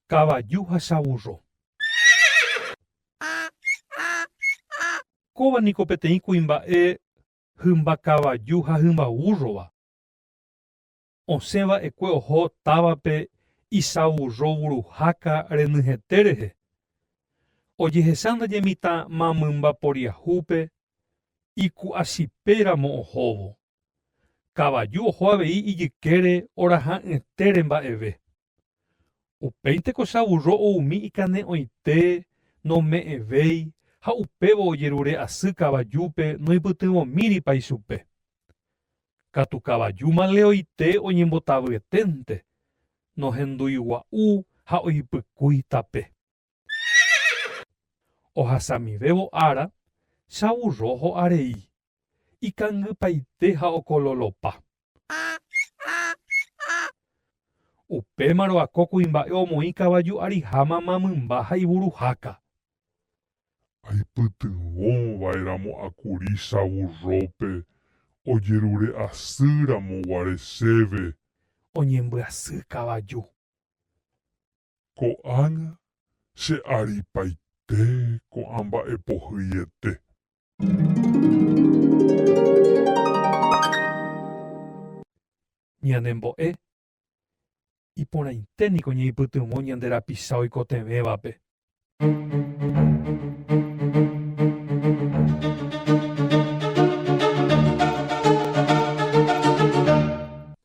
Kavaju ha chavurro. Kóva niko peteĩ kuimba'e hymba kavaju ha hymba vúrrova. Osẽ va'ekue oho távape isavurro vuruháka renyhete rehe. Ojehecha ndaje mitã mamymba poriahúpe iku'asipéramo ohóvo. Kavaju oho avei ijykére oraha'ỹetére mba'eve. Upéi tekochavurro oumi ikane'õite, nome'ẽvéi, ha upévo ojerure asy kavajúpe noipytyvõmíripa ichupe. Katu kavaju maleoite oñembotavyeténte, nohenduigua'u ha oipykúi tape. Ohasamivévo ára, chavurro ho'arei. ikangypaite ha okololopa. Upémarõ ako kuimba'e omoĩ kavaju ariha mama mymba ha ivuruháka. Aipytyvõ vaeramo akuri savurrópe ojerure asy ramo guare chéve. Oñembyasy kavaju. Ko'ág̃a che aripaite ko'ã mba'e pohyiete. Ñanembo'e, iporãite niko ñaipytyvõ ñande rapicha oikotevẽvape.